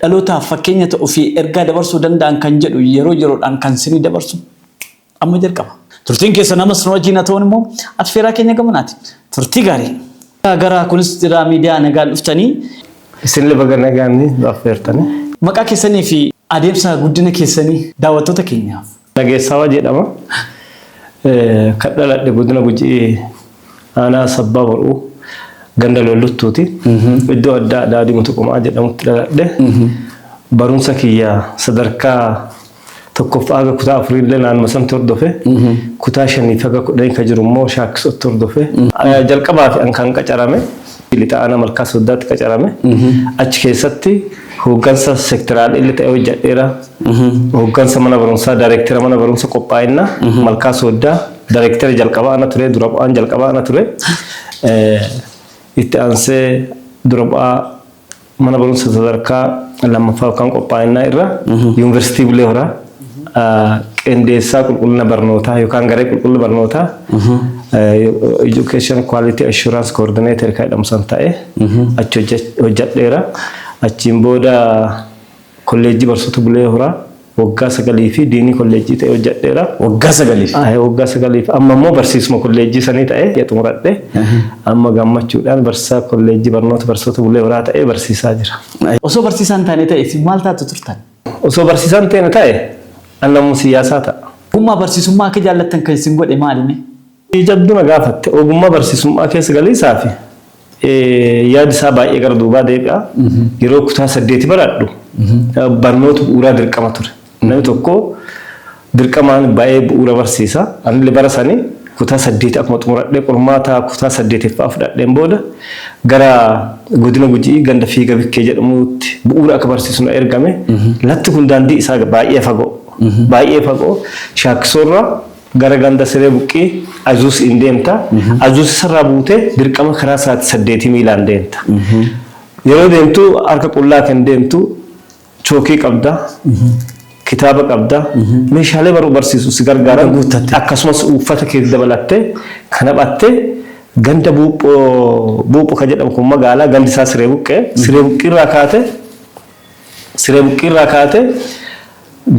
Dhalootaaf fakkeenya ta'u fi ergaa dabarsuu danda'an kan jedhu yeroo yeroodhaan kan sinii dabarsu amma jalqaba. Turtiin keessan amas nu wajjiin haa ta'uun immoo affeeraa keenya gamanaati. Turtii gaarii! Garaa kunis jiraa miidiyaa nagaan dhuftanii. Isinille baga nagaan nu affeertanii. Maqaa keessanii fi adeemsa guddina keessanii daawwattoota keenyaaf. Nageessaawa jedhama. Kan dhaladhe Godina Gujii Aanaa Sabbaa Bor'uu ganda Lolluttuuti. Iddoo addaa Daadhii Mutuqumaa jedhamutti dhaladhe. Barumsa kiyya sadarkaa tokkoffaa haga kutaa afuriillee naannuma santi hordofe. Kutaa shaniif haga kudhanii ka jiru immoo Shaakkisootti hordofe. Jalqabaaf an kan qacarame Lixa Aanaa Malkaa Sooddaatti qacarame. Achi keessatti hooggansa sekteraal'llee ta'ee hojjadheera. Hooggansa mana barumsaa Daarektera mana barumsa qophaa'inna Malkaa Sooddaa Daarektera jalqabaa ana ture dura bu'aan jalqabaa ana ture itti aansee dura bu'aa mana barumsa sadarkaa lammaffaa yookaan qophaa'inaa irra yuunivarsiitii Bulee Horaa qindeessaa qulqullina barnootaa yookaan garee qulqullina barnootaa education quality assurance coordinator kan jedhamu san ta'e achi hojjedheera achiin booda Kolleejjii Barsoota Bulee Horaa waggaa sagalii fi Diinii Kolleejjii ta'ee hojjadheera. Waggaa sagaliif? Ahe waggaa sagaliif. Amma immoo barsiisuma kolleejjii sanii ta'ee ya xumuradhe. Amma gammachuudhaan barsiisaa Kolleejjii Barnoota Barsoota Bulee Horaa ta'ee barsiisaa jira. Osoo barsiisaa hin taane ta'e isin maal taatu turtan? Osoo barsiisaa hin teene ta'e an namuma siyyaasaa ta'a. Ogummaa barsiisummaa akka jaallattan kan isin godhe maali mee? Gaaffii jabduu na gaafatte. Ogummaa barsiisummaa keessa galiisaafi yaadi isaa baay'ee gara duubaa deebi'a. Yeroo kutaa saddeeti baradhu barnoota bu'uuraa dirqama ture. Namni tokko dirqamaan ba'ee bu'uura barsiisa. Anillee bara sani kutaa saddeeti akkuma xumuradhee qormaata kutaa saddeetiffaa fudhadheen booda gara godina Guji'ii ganda Fiiga Bikkee jedhamuutti bu'uura akka barsiisu na ergame. Latti kun daandii isaa baay'ee fagoo. Baay'ee fagoo. Shaakkisoorraa Gara ganda Siree Buqqii Azuusiin deemta. Azuusisarraa buutee dirqama karaa sa'aatii saddeetii miilaan deemta. Yeroo deemtu harka qullaa kan deemtu chookii qabda, kitaaba qabda, meeshaalee baruu barsiisu si gargaaran akkasumas uuffata kee dabalattee kan haphatte ganda Buupho Buupho kan jedhamu kun magaalaa gandi isaa Siree Buqqee. Siree Buqqii irraa kaatee. Siree Buqqii irraa kaatee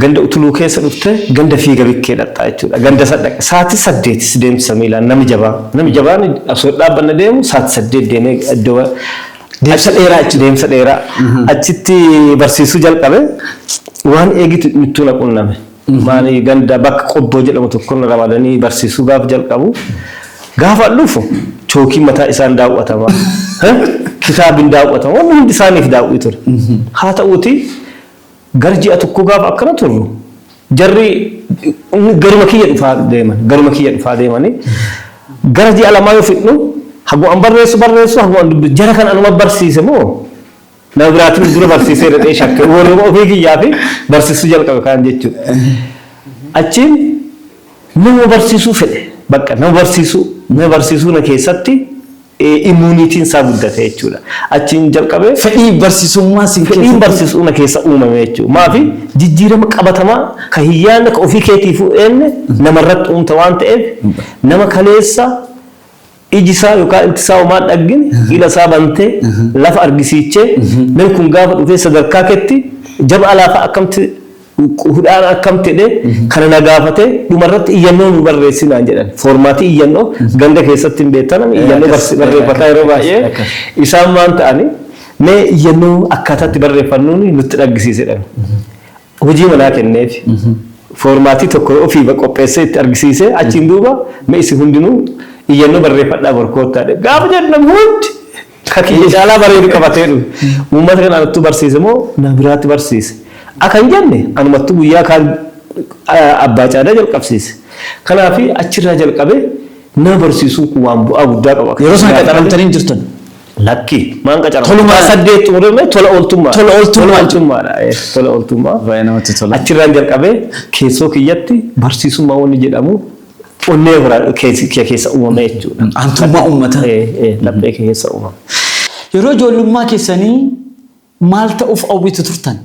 ganda Utuluu keessa dhuftee ganda Fiiga Bikkee dhaqxa jechuudha. Ganda san dhaqxe sa'aatii saddeeti si deemsisa miilaan nami jabaa. Nami jabaan osoo hin dhaabbanne deemu sa'aatii saddeet deemee iddoo ba- Deemsa achi- dheeraa jechuudha. Deemsa dheeraa. Achitti barsiisuu jalqabe waan eegitu mittuu na qunname. Maali ganda bakka Qobboo jedhamu tokko na ramadanii barsiisuu gaaf jalqabu gaafan dhufu chookiin mataa isaan daaw'atama. Kitaabi hin daaw'atama. Wanni hundi isaaniif daaw'ii ture. Haa ta'uutii gara ji'a tokkoo gaafa akkana turru jarri garuma kiyya dhufaa deeman. Garuma kiyya dhufaa deemanii gara ji'a lamaa yoo fixnu haguma an barreessu barreessu haguma an dubbisu jara kan anuma barsiise moo Nama biraatiin dura barsiisee dhaqee shakke warruma ofii kiyyaafi barsiisuu jalqabe kaan jechuudha. Achiin nama barsiisuu fedhe bakka nama barsiisuu nama barsiisuu na keessatti immuuniitiin isaa guddate jechuudha. Achiin jalqabee Fedhii barsiisummaa sin fedhiin keessatti barsiisuu na keessa uumame jechuudha. Maafi jijjiirama qabatamaa ka hin yaadne ka ofii keetiifuu eenne namarratti uumta waan ta'eef nama kaleessa Iji isaa yookaan ilti isaa homaa hin dhaggine, ila isaa bantee, lafa argisiichee, namni kun gaafa dhufee sadarkaa keetti jaba alaa fa'a akkamti hudhaan akkamti jedhee kana na gaafatee dhuma irratti iyyannoo nuu barreessi naan jedhan. Foormaatii iyyannoo ganda keessatti hin beektan ani iyyannoo Akkas, barsi- barreeffataa yeroo akkas, baay'ee akkas. isaan waan ta'ani mee iyyannoo akkaataa itti barreeffannuun nutti dhaggisiisedhan. Hojii manaa kenneefi. Foormaatii tokko ofiiba qopheessee itti argisiisee achiin duuba mee isin hundinuu iyyannoo barreeffadhaa bor koottaa jedhe. Gaafa jedhu namni hundi ka kiyya caalaa bareedu qabatee dhufe. Uummata kana anattu barsiise moo nama biraatti barsiise? Akka hin jenne anumattu guyyaa kaan Abbaa Caadaa jalqabsiise. Kanaafi achirraa jalqabee nama barsiisuun kun waan bu'aa guddaa qaba. Yeroo sana qaxaramtanii hin jirtan? Lakki maan qacara. Tolumaa. Saddeet xumuree mee tola ooltummaa. Tola ooltummaa. Tola ooltummaadha. Eh, Tola ooltummaa. Baay'ee namatti tola. Achirraan jalqabee keessoo kiyyatti barsiisummaa wanni jedhamu onnee biraa keessa kiyya keessa uumame jechuudha. Aantummaa uummataa. Eh, eh, Laphee kiyya keessa uumame. Yeroo ijoollummaa keessanii maal ta'uuf hawwitu turtan?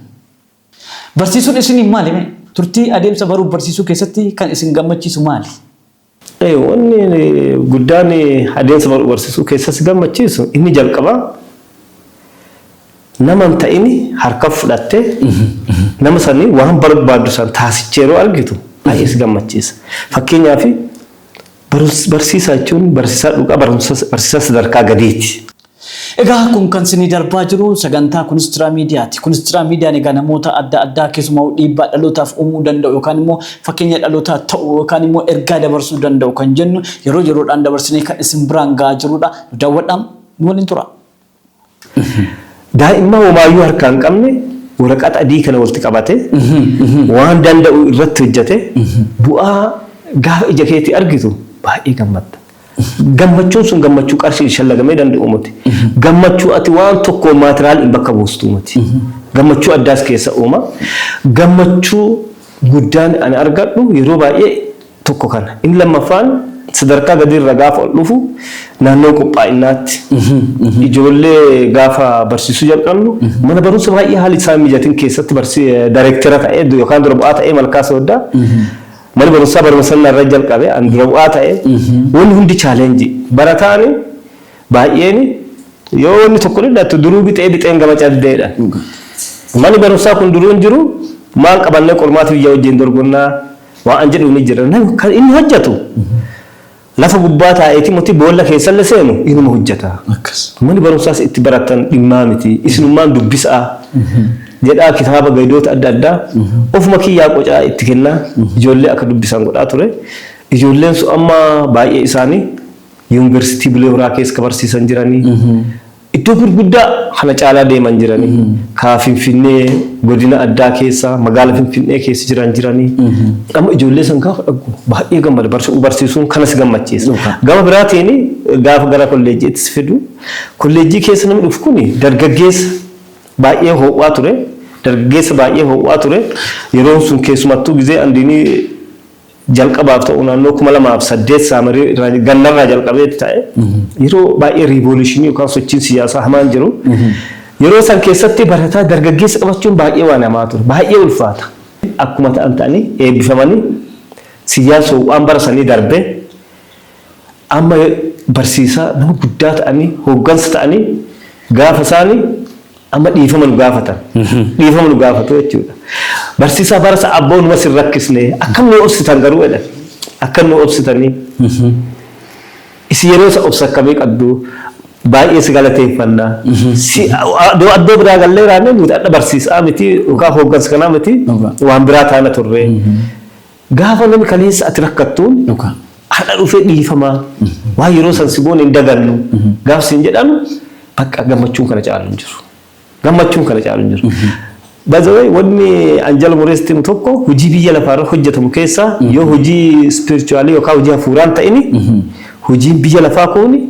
Barsiisuun isiniif maali? mee? Turtii adeemsa baruuf barsiisuu keessatti kan isin gammachiisu maali? Wanni guddaan adeemsa baruu barsiisuu keessa si gammachiisu inni jalqabaa nama hin ta'ini harka fudhatte nama sanii waan barbaaddu san taasichee yeroo argitu baay'ee si gammachiisa. Fakkeenyaaf barsiisaa jechuun barsiisaa dhugaa barsiisaa sadarkaa gadiiti. Egaa kun kan sinii darbaa jiru sagantaa Kunstiraa Miidiyaati. Kunstiraa Miidiyaan egaa namoota adda addaa keessumaa dhiibbaa dhalootaaf uumuu danda'u yookaan immoo fakkeenya dhalootaa ta'u yookaan immoo ergaa dabarsuu danda'u kan jennu yeroo yeroodhaan dabarsinee kan isin biraan ga'aa jirudha. Nu daawwadhaa, nu waliin tura. Daa'imma homaayyuu harkaa hin qabne waraqata adii kana walitti qabate waan danda'u irratti hojjete bu'aa gaafa ija keetii argitu baay'ee gammadda. Gammachuun sun gammachuu qarshiin shallagamee danda'u miti. Gammachuu ati waan tokkoon maateraaliin bakka buustuu miti. Gammachuu addaas keessa uuma. Gammachuu guddaan ani argadhu yeroo baay'ee tokko kana. Inni lammaffaan sadarkaa gadiirra gaafa ol dhufu naannoo qophaa'innaatti. Ijoollee gaafa barsiisuu jalqabnu mana barumsa baay'ee haalli isaa hin mijatin keessatti dareektera ta'ee yookaan dura bu'aa ta'ee Malkaa Sooddaa Mana barumsaa baruma san narra jalqabe an dura bu'aa ta'e wanni hundi challenge barataani baay'eeni yoo wanni tokko dhidhattu duruu bixee bixeen gama cabdeedha mani barumsaa kun duruu hin jiru maan qabannee qormaata biyya wajjiin dorgonnaa waan an jedhuuni jira inni hojjatu Lafa gubbaa taa'eeti moti boolla keessalle seenu inuma hujjata. Akkas. Mani barumsaas itti barattan dhimmaa miti. Isinummaan dubbisa'aa. jedhaa kitaaba gaydoota adda addaa ofuma kiyyaa qocaa itti kennaa ijoollee akka dubbisan godhaa ture. Ijoolleen sun amma baay'ee isaanii Yuunversitii Bulee Horaa keessa ka barsiisan jiranii. Iddoo gurguddaa kana caalaa deeman jiranii kaa finfinnee godina addaa keessa magaala finfinnee keessa jiran jiranii amma ijoollee san gaafa dhaggu baay'ee gammada barsu barsiisuun kanas gammachiisa Dhugaa. gama biraatiin gaafa gara kolleejjiitti si fidu kolleejjii keessa namni dhufu kun dargaggeessa baay'ee ho'aa ture dargaggeessa baay'ee ho'aa ture yeroon sun keessumattuu gizee andiinii Jalqabaaf ta'u naannoo 2008 Saamirii irraa gannarraa jalqabeeti ta'e. Yeroo baay'ee riivooluushinii yookaan sochiin siyaasaa hamaan jiru. Yeroo san keessatti barataa dargaggeessa qabachuun baay'ee waan hamaa ture. Baay'ee ulfaata. Akkuma ta'an ta'anii eebbifamanii Siyyaan waan bara sanii darbee amma barsiisaa nama guddaa ta'anii hooggansa ta'anii gaafa isaanii Amma dhiifama nu gaafatan. Dhiifama nu gaafatu jechuudha. Barsiisaa barasa abboo numa sin rakkisne akkam nu obsitan garuu jedhan. Akkam nu obsitanii. Isin yeroo isa obsa akkamii qabdu baay'ee si galateeffanna. Si addoo addoo biraa gallee raannee nuti adda barsiisaa miti yookaan hooggansa kanaa miti Dhugaa. waan biraa taana turre. Gaafa nami kaleessa ati rakkattuun Dhugaa. hardha dhufee dhiifama waan yeroo san si goone hin dagannu gaaf siin jedhan bakka gammachuun kana caalu hin jiru. Gammachuun kana caalu hin jiru. By the way wanni an jala murees timu tokko hojii biyya lafaa irra hojjetamu keessaa yoo hojii spiritualii yookaan hojii hafuuraan ta'ini hojiin biyya lafaa kuuni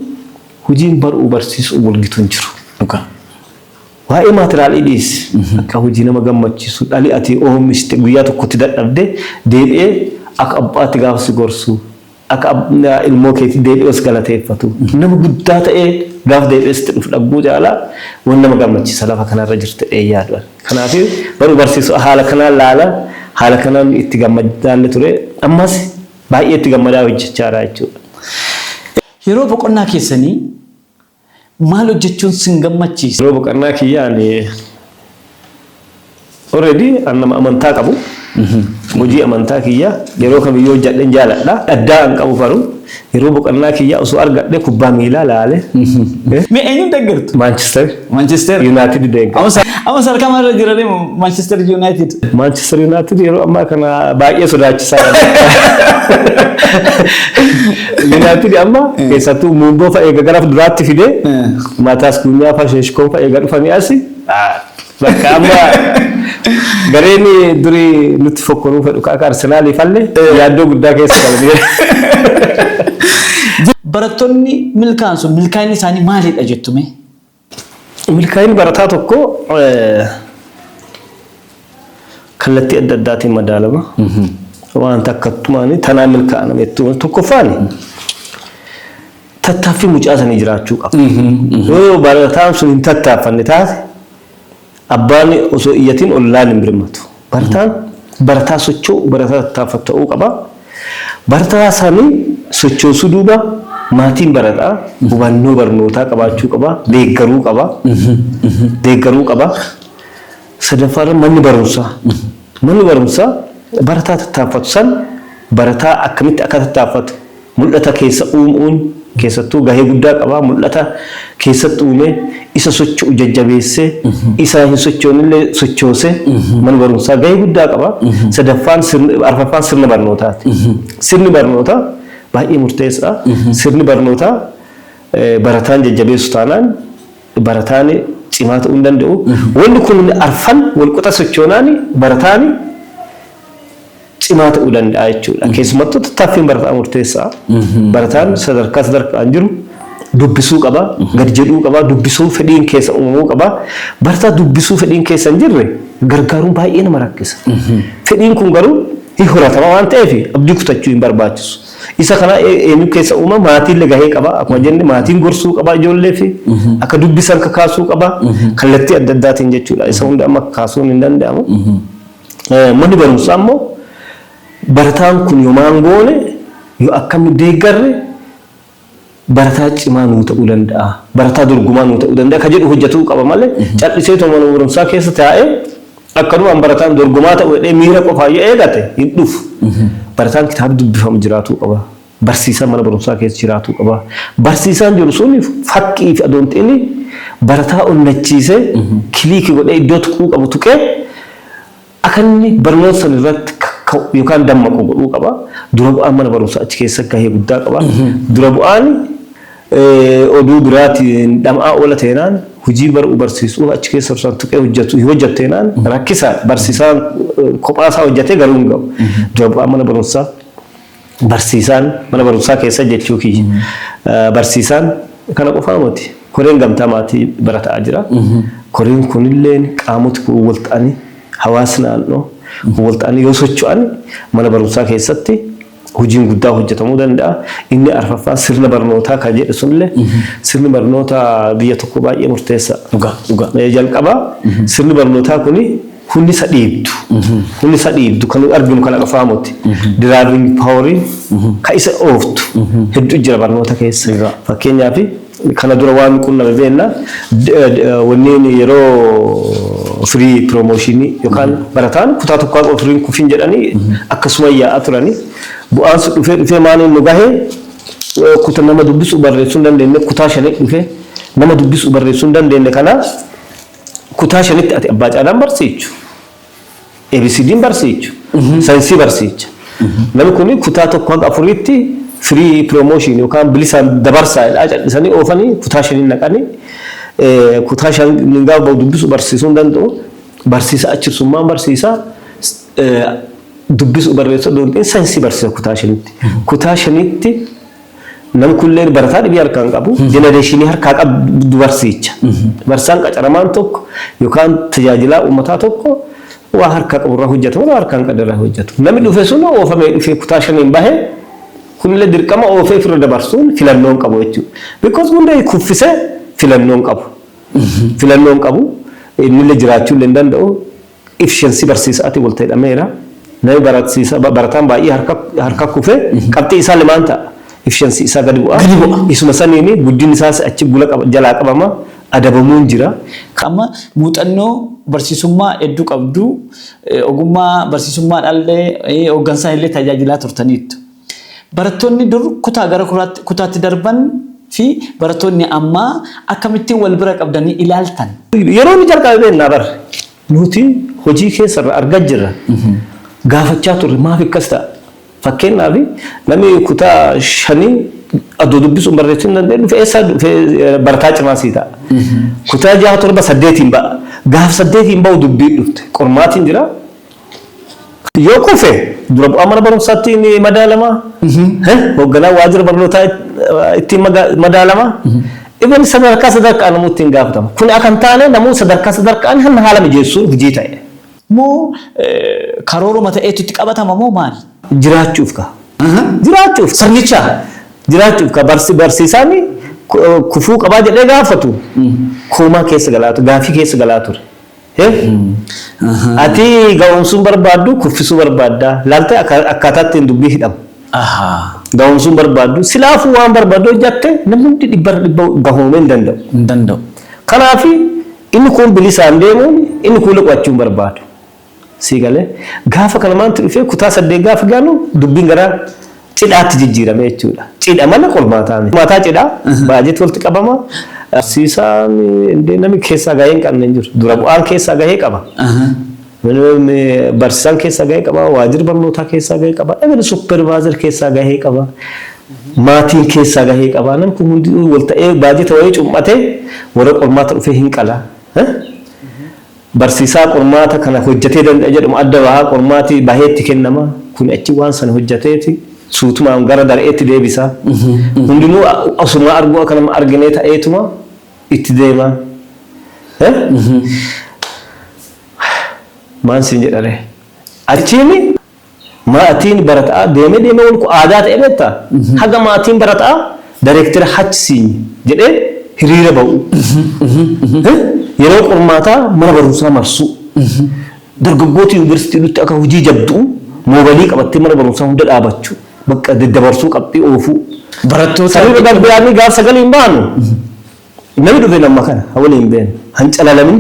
hojiin bar'uu barsiisuu wal gitu hin jiru. Dhugaa. Waa'ee maatiraalii dhiisi. Akka hojii nama gammachiisu dhali ati oomishte guyyaa tokkotti dadhabde deebi'ee akka abbaatti gaafa si gorsu, akka ilmoo keetii deebi'ee si galateeffatu, nama guddaa ta'ee gaafa deebi'ee sitti dhufu dhagguu caalaa waan nama gammachiisa lafa kanarra jirtu jedheen yaadu ani. Kanaaf baruu barsiisuu haala kanaan ilaala. Haala kanaan itti gammadaallee ture. Ammas baay'ee itti gammadaa hojjechaa jira jechuudha. Yeroo boqonnaa keessanii Maal hojjechuun sin gammachiisa? Yeroo boqannaa kiyyaa ani already an nama amantaa qabu. Hojii amantaa kiyyaa yeroo kamiyyuu hojjedheen jaaladha. Addaa an qabu garuu yeroo boqannaa kiyyaa osoo argadhee kubbaa miilaa laale. Mee eenyuun deeggartu? Maanchister Manchester. Yuunaayitid deeggara. Amma sa- amma sadarkaa maal irra jiranii Manchester United? Maanchister Yuunaayitid yeroo ammaa kana baay'ee sodaachisaa dha. Nyaatini amma keessattuu muundoo fa'a eega gara duraatti fide mataas kunyaa fa'a sheeshkoon fa'a eega dhufanii asi bakka amma gareen duri nutti fokkoruu fedhu ka akka Arsenaalii falle yaaddoo guddaa keessa galanii. Barattoonni milkaan sun milkaa'inni isaanii maalidha jettu mee? Milkaa'inni barataa tokkoo kallattii adda addaatiin madaalama. Waan takkattumaan tanaa milkaa'a nama jettu. Tokkoffaan tattaaffii mucaa sanii jiraachuu qaba. Yoo barataan sun hin tattaaffanne taate Abbaan osoo hin iyyatin ollaan hin birmatu. Barataan barataa socho'u, barataa tattaafatu ta'uu qaba. Barataa sani sochoosuu duuba maatiin barataa hubannoo barnootaa qabaachuu qaba, deeggaruu qaba. Deeggaruu qaba. Sadaffaarra manni barumsaa. Manni barumsaa barataa tattaafatu san barataa akkamitti akka tattaafatu, Mul'ata keessa uum'uun keessattuu gahee guddaa qaba. Mul'ata keessatti uumee isa socho'u jajjabeessee isa hin sochoonillee sochoose mana barumsaa gahee guddaa qaba. Sadaffaan arfaffaan sirna barnootaati. Sirni barnootaa baay'ee murteessaa. Sirni barnootaa barataan jajjabeessu taanaan barataan cimaa ta'uu hin danda'u. Wanni kun arfan walqixa sochoonaan barataan cimaa ta'uu danda'a jechuudha. Keessumattuu tattaaffiin barataa murteessaa. Barataan sadarkaa sadarkaan jiru dubbisuu qaba, gad jedhuu qaba, dubbisuu fedhiin keessa uumamuu qaba. Barataa dubbisuu fedhiin keessa hin jirre gargaaruun baay'ee nama rakkisa. Fedhiin kun garuu hin horatama waan ta'eef abdii kutachuu hin barbaachisu. Isa kana ee- eenyu keessa uuma maatiillee gahee qaba. Akkuma jenne maatiin gorsuu qaba ijoollee fi akka dubbisan kakaasuu qaba. Kallattii adda addaatiin jechuudha. Isa hunda amma kaasuun hin danda'amu. Manni barumsaa immoo barataan kun yoo maal goone, yoo akkam nu deeggarre barataa cimaa nuu ta'uu danda'a, barataa dorgomaa nuu ta'uu danda'a kan jedhu hojjetuu qaba malee cal'iseetuma mana barumsaa keessa taa'ee akkanumaan barataan dorgomaa ta'u jedhee miira qofaan yoo eegate hin dhufu. Barataan kitaaba dubbifamu jiraatuu qaba. Barsiisaan mana barumsaa keessa jiraatuu qaba. Barsiisaan jiru sun fakkii fi adoon xiini barataa onnachiisee kiliiki godhee iddoo tuquu qabu tuqee akka inni barnoota san irratti kakka'u yookaan dammaqu godhuu qaba. Dura bu'aan mana barumsaa achi keessa gahee guddaa qaba. Dura bu'aan eh, oduu biraatiin dhama'aa oola teenaan hojii baruu barsiisuu achi keessa isaan tuqee hojjetu hin hojjetteenaan rakkisaadha. Barsiisaan eh, kophaa isaa hojjetee garuu hin ga'u. Dura bu'aan mana barumsaa Barsiisaan mana barumsaa keessa jechuu kiyya. Barsiisaan kana qofaa miti. Koreen gamtaa maatii barataa jira. Koreen kunillee qaamoti kun wal ta'anii hawaasi naannoo kun wal ta'anii yoo socho'an mana barumsaa keessatti hojiin guddaa hojjetamuu danda'a. Inni arfaffaan sirna barnootaa kan jedhu sunillee sirni barnoota biyya tokkoo baay'ee murteessa. Dhugaa dhugaa. Jalqaba sirni barnootaa kuni Hullisa dhiibdu. Hullisa dhiibdu kan nuti arginu kan afaa moti. Diraaving paaworiin kan isa ooftu hedduu jira barnoota keessa. Egaa. Fakkeenyaaf kana dura waan qunname beekna d- d- wanneen yeroo firii piroomooshinii yookaan barataan kutaa tokkaa qofa firiin kufin jedhanii akkasuma yaa'aa turanii bu'aan sun dhufee dhufee maaliin nu gahee eh, kuta nama dubbisuu barreessuu hin dandeenye kutaa shanii dhufee nama dubbisuu barreessuu hin dandeenye kana Kutaa shanitti ati abbaa caalaan barsiichu. ABCDn barsiichu. Saayinsii barsiicha. Namni kun kutaa tokko hanga afuriitti firii piroomooshiin yookaan bilisaan dabarsaa jedhaa callisanii oofanii kutaa shaniin naqanii kutaa shan gaafa bahu dubbisu barsiisuu hin danda'u. Barsiisa achibsummaan barsiisa. Dubbisu barreessuu danda'u saayinsii barsiisa kutaa shanitti. Kutaa shanitti Nam kulleen barataa dhibii harkaa hin qabu. Jenereeshinii harkaa qabdu barsiicha. Barsiisaan qacaramaan tokko yookaan tajaajilaa uummataa tokko waa harkaa qabu irraa hojjeta malee waa harkaa hin qabne irraa hojjetu. Namni dhufe sun oofamee dhufee kutaa shaniin bahe kunillee dirqama oofee ofirra dabarsuun filannoo hin qabu jechuudha. Because hundee kuffisee filannoo hin qabu. Filannoo hin qabu. Innillee jiraachuu illee hin danda'u. ifshensi barsiisa'atiin wal ta'e dhameera. Nami barasiisa, barataan baay'ee harka, harka kufe, qabxiin isaalle maan ta'a? Ifshensi isaa gadi bu'a. Gadi bu'a. Isuma saniin guddinni isaas achi gula qaba, jalaa qabama, adabamuun jira. Ka amma muuxannoo barsiisummaa heddu qabdu, ogummaa barsiisummaadhaallee, hoggansaanillee tajaajilaa turtaniittu. Barattoonni dur kutaa gara kuraatti, kutaatti darban fi barattoonni ammaa akkamittiin wal bira qabdanii ilaaltan? Yeroo inni jalqabe beekna bar. Nuti hojii keessa irraa argaa jirra. Gaafachaa turre maaf akkas ta'a? Fakkeenyaaf namni kutaa shanii adoo dubbisuun barreessuu hin dandeenye dhufe eessaa dhufe barataa cimaa sii ta'a. Kutaa jaha torba saddeetiin ba'a. Gaaf saddeetiin ba'u dubbiin dhufte. Qormaatiin jira. Yoo kufe dura bu'aa mana barumsaatti ni madaalama, hoogganaa waajjira barnootaa ittiin madaalama, even sadarkaa sadarkaan namuu ittiin gaafatama. Kun akka hin taane namuu sadarkaa sadarkaan hanna haala mijeessuun hojii ta'e. Moo karooruma ta'eetu itti qabatama moo maali? Jiraachuuf kaa. Jiraachuuf sirnicha jiraachuuf kaa barsiisaan kufuu qabaa jedhee gaafatu koomaa keessa galaa ture, gaaffii keessa galaa ture. Ati ga'oomsuu hin barbaaddu, kuffisuu barbaadda. Laaltee akkaataa ittiin dubbii hidhamu. Ga'oomsuu hin barbaaddu. Silaafuu waan barbaaddu hojjatte namni hundi dhibbarra dhibba gahoomee hin danda'u. Hin danda'u. Kanaaf inni kuun bilisaan deemuun inni kuun qo'achuu hin barbaadu. Sii galee? Gaafa kana maaltu dhufee kutaa saddeet gaafa gaanu dubbiin gara cidhaatti jijjiirame jechuudha. Cidha malee qormaataa miti. Qormaataa cidhaa baajeti walitti qabama. Barsiisaan indee namni keessaa gahee hin qabne hin jiru. Dura bu'aan keessaa gahee qaba. Barsiisaan keessaa gahee qaba. Waajjirri barnootaa keessaa gahee qaba. Even suppervaazar keessaa gahee qaba. Maatiin keessaa gahee qaba. Namni kun hundi wal ta'ee baajeta wayii cum'atee warra qormaata dhufee hin qala. Barsiisaa qormaata kana hojjatee danda'e jedhamu adda baha, qormaati bahee itti kennama, kuni achi waan sana hojjateeti suutumaan gara dare'eetti deebisa. Hundinuu osuma arguu akka nama arginee ta'eetuma itti deema. Maan siin jedharee? Achiini. Maatiin barata'aa deemee deemee walku aadaa ta'e beetta? Haga maatiin barata'aa dareektera HCn jedhee hiriira ba'u. Yeroo qormaataa mana barumsaa marsuu. Dargaggooti yuniversitii dhufte akka hujii jabdu'u moobalii qabattee mana barumsaa hunda dhaabachu. Baqqa daddabarsuu qabxii oofuu. Barattoota San irra darbeeaanii gaaf sagaliin baanu. Nami dhufe nama kana ha waliin beenu ha hin calalamin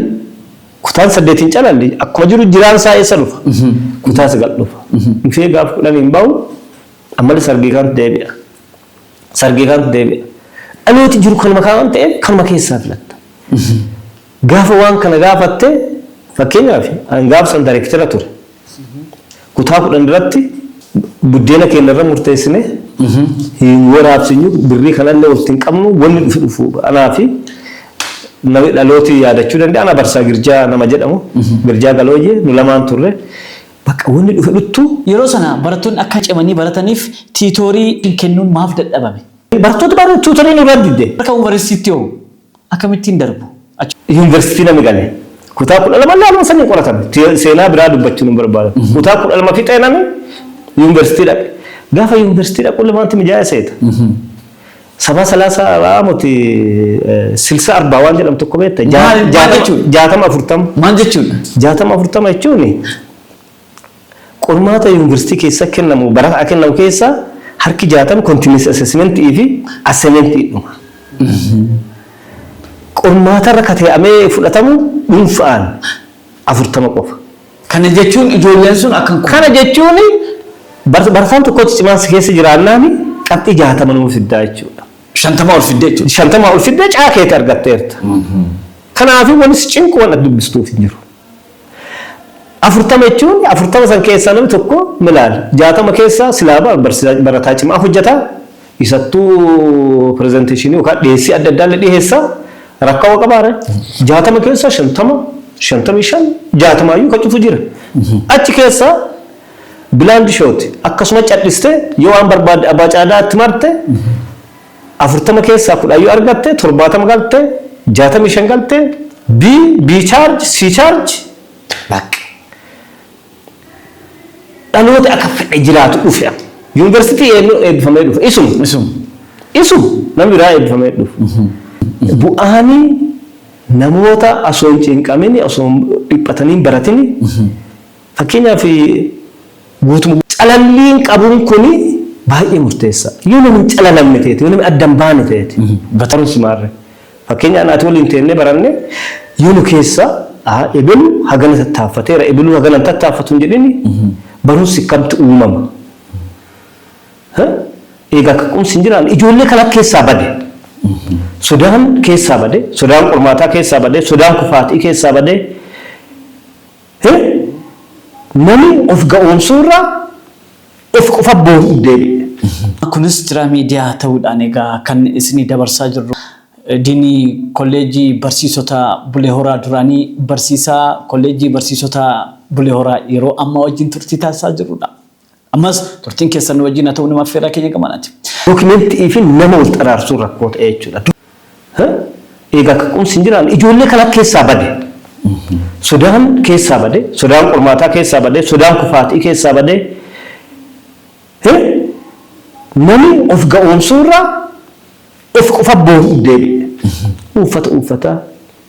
kutaan saddeet hin calalle akkuma jiru jiraan isaa eessa dhufa kutaa sagal dhufa dhufee gaaf kudhan hin bahu ammale sargii kaantu deebi'a sargii kaantu deebi'a dhalooti jiru kanuma kaa waan ta'eef kanuma keessaa filatta gaafa waan kana gaafatte fakkeenyaaf an gaafsan dareektira ture. Kutaa kudhan irratti buddeena keenya irra murteessine hin waraabsinyu birrii kana illee walitti hin qabnu wanni dhufe dhufu anaa fi nami dhalooti yaadachuu danda'a ana barsaa girjaa nama jedhamu girjaa galooyyee nu lamaan turre bakka wanni dhufe dhuttu Yeroo sana barattoonni akka cimanii barataniif tiitoorii kennuun maaf dadhabame? Barattoota baay'ee tuutorii nurraa didde. Akka Unvarestiitti hoo? Akamittin darbu achi. University nami gale kutaa kudha lama illee haluma saniin qoratan seenaa biraa dubbachun hin barbaadan kutaa kudha lama fixee nami university dhaqe gaafa university dhaqu illee maanti mijaaya seeta sabaa salaasa aamoti silsa arbaa waan jedhamu tokko beekta jaatama afurtama jaatama afurtama jechuun Qormaata Yuunvarsiitii keessa kennamu barataa kennamu keessaa harki 60 continuous assessment fi assignment dhuma. Qormaatarra katee'amee fudhatamu dhuunfa'aan 40 qofa. Kana jechuun ijoolleen sun akka hin kufne. Kana jechuun barataan tokkotti cimaan si keessa jiraannaan qabxii 60 nuu fiddaa jechuudha. 50 ol fidde jechuudha. 50 ol fidde caa keeti argatteerta. Kanaafuu wanni si cinqu waan ati dubbistuuf hin jiru. 40 jechuun 40 san keessaa namni tokko milaal 60 keessaa silaa bar barsiisaa barataa cimaa hojjeta isattuu pirezenteeshinii yookaan dhiyeessii adda addaa illee dhiyeessa rakkoo qabaare 60 keessaa 50 55 60 iyyuu kan cufu jira achi keessaa bilaandi shooti akkasuma cadhiste yoo waan barbaadde abbaa caadaa itti marte 40 keessaa 10 yoo argatte 70 galte 65 galte B B charge C charge bakka dhaloota akka fedhe jiraatu dhufe amma. Yuunivarsiitii eenyu eebbifamee dhufe isuma Isum. isuma namni biraa eebbifamee dhufe. Bu'aani namoota osoo hin cinqamini osoo hin dhiphatanii hin baratini Fakkeenyaaf, guutuma. Calalliin qabuun kun baay'ee murteessaa. Yoo namni hin calalamne ta'eeti, yoo namni adda hin baane ta'eeti, batarumsi maarree. Fakkeenyaan ati waliin teennee baranne yoo nu keessaa aa ebelu hagana tattaaffateera, ebeluu hagana hin tattaaffatu hin jedhini barumsi akkamtti uumama? He? Eegaa kaka'umsi hin jiraanne ijoollee kana keessaa bade. Sodaan keessaa bade, sodaan qormaataa keessaa bade, sodaan kufaatii keessaa bade. Hin Nami of ga'oomsuu irra of qofa booru'utti deebi'e. Kunis Jira Media ta'uudhaan egaa kan isinii dabarsaa jirru. Diinii Kolleejjii Barsiisota Bulee Horaa duraanii Barsiisaa Kolleejjii Barsiisota Bulee Horaa yeroo ammaa wajjin turtii taasisaa jirrudha. Ammas turtiin keessan nu wajjin haa ta'u nama affeerraa keenya gamanaati. Document fi nama wal xaraarsuun rakkoo ta'ee jechuudha. Eegaa akka qumsi hin jiraanne ijoollee kana keessaa bade. Sodaan keessaa bade, sodaan qormaataa keessaa bade, sodaan kufaatii keessaa bade. Nami of ga'oomsuu irraa Ofi qofa boo'uuf deebi'e. Uffata uffata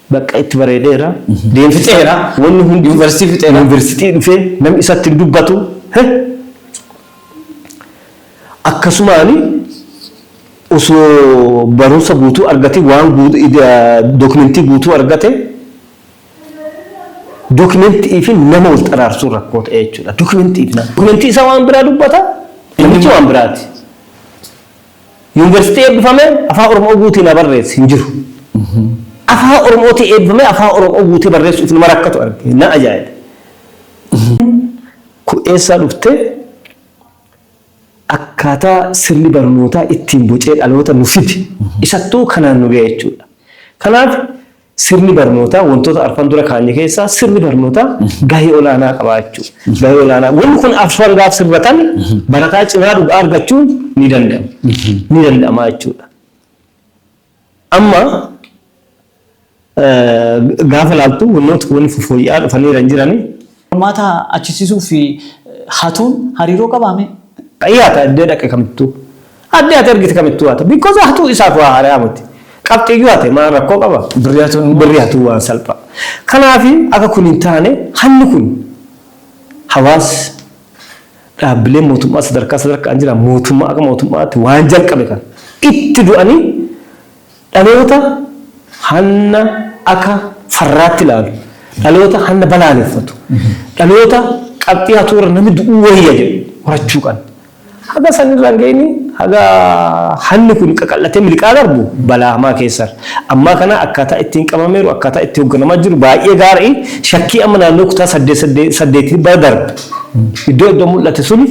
bakka itti bareedeera. Deem fixeera. Wanni hundi yuunivarsiitii fixeera. Yuunivarsiitii dhufee namni isatti hin dubbatu. Akkasumaan osoo barumsa guutuu argate waan dookimentii guutuu argate dookimentii fi nama wal xaraarsuun rakkoo ta'e jechuudha. Dookimentii fi nama. Dookimentii isaa waan biraa dubbata. Namichi waan biraati. Yuniversitii eebbifamee Afaan Oromoo guutii na barreesse hin jiru. Afaan Oromootii eebbifamee Afaan Oromoo guutee barreessuuf nama rakkatu arge. Na ajaa'ibe. Kun eessaa dhufte? Akkaataa sirni barnootaa ittiin bocee dhaloota nu fide. Isattuu kanaan nu ga'e jechuudha. Kanaaf. Sirni barnootaa wantoota arfan dura kaanye keessaa sirni barnootaa gahee olaanaa qabaa jechuudha. Gahee olaanaa. Wanni kun arfan gaaf sirratan barataa cimaa dhugaa argachuun ni danda'ama. Ni danda'ama jechuudha. Amma gaafa laaltu wannoota wanni fooyya'aa dhufaniiran jiranii Qormaata achisiisuu fi hatuun hariiroo qabaa mee? Ii hata iddee dhaqe kamittuu. Addee ati argite kamittuu hata. Because hatuu isaaf waa haarayaa miti. Qabxiiyyuu hate maal rakkoo qaba? Birrii hatuun immoo. Birrii hatuun waan salpha. Kanaaf akka kun hin taane hanni kun hawaas dhaabbileen mootummaa sadarkaa sadarkaan jiran mootummaa akka mootummaatti waan jalqabe kana itti du'anii Dhaloota hanna aka farraatti laalu, dhaloota hanna balaaleffatu, dhaloota qabxii hatuu irra nami du'uu wayya jedhu horachuu qanna. Haga san irra hin gayini, haga hanni kun qaqal'atee miliqaa darbu balaa hamaa keessa irra. Ammaa kana akkaataa ittiin qabameeru, akkaataa itti hogganamaa jiru baay'ee gaari'i. Shakkii amma naannoo kutaa saddeet saddeet saddeetii bara darbe iddoo iddoo mul'ate suni,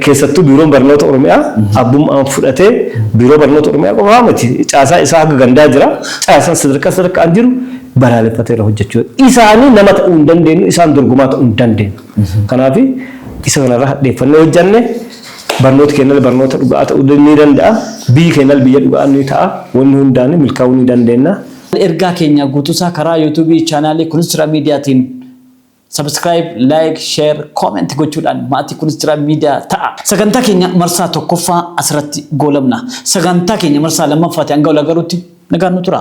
Keessattuu Biiroon Barnoota Oromiyaa abbummaan fudhatee Biiroo Barnoota Oromiyaa qofaa miti caasaa isaa haga gandaa jira. Caasaan sadarkaa sadarkaan jiru balaaleffateera hojjechuu dadhabe. Isaanii nama ta'uu hin dandeenyu, isaan dorgomaa ta'uu hin dandeenyu. Kanaaf isa kanarraa hadheeffannee hojjenne barnooti keenyallee barnoota dhugaa ta'uu ni danda'a. Biyyi keenyallee biyya dhugaa ni ta'a. Wanni hundaan milkaa'uu ni dandeenya. Ergaa keenya guutuusaa karaa YouTube chaanaalii Kunisra Mediatiin. Subscribe, like, share, comment gochuudhaan maatii kunis jira miidiyaa ta'a. Sagantaa keenya marsaa tokkoffaa asirratti goolabna. Sagantaa keenya marsaa lammaffaati hanga wal agaruutti nagaan nu tura.